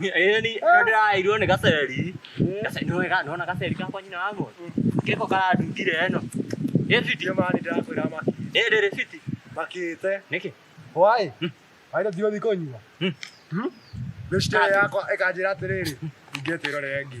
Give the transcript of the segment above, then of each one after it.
Ĩni no ndĩraĩirwo nĩ gaceri. Gaceri nĩ wega nona gaceri gakwa nyina wa mũndũ. Geko karandutire ĩno. Ĩ fiti. Ndio maana nitakwira maki. Ĩ ndĩrĩ fiti. Makite. Nĩkĩ? Wai. Wai ndio thioni konyua. Ndio shida yakwa ikanjira atiriri. Ingĩtirore ngi.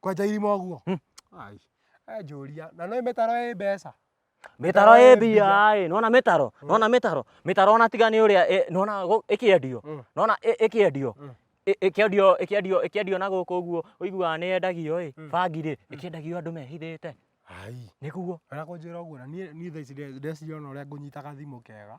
Kwenja irima ũguo? Hmm. Ai, he njũria. Na nĩ mĩtaro ĩ mbeca? Mĩtaro ĩ mbia ĩ, nĩwona mĩtaro? Hmm. Nĩwona mĩtaro? Mĩtaro ona tiga nĩ ũrĩa nĩwona ĩkĩendio. Hmm. Nĩwona ĩkĩendio. Hmm. Ĩkĩendio ĩkĩendio ĩkĩendio na gũkũ ũguo ũiguaga nĩ yendagio ĩ, bangi rĩ, ĩkĩendagio andũ mehithĩte. Ai. Nĩguo. Ona kũnjĩra ũguo na niĩ niĩ thaa ici ndĩreciria ona ũrĩa ngũnyitaga thimũ kega.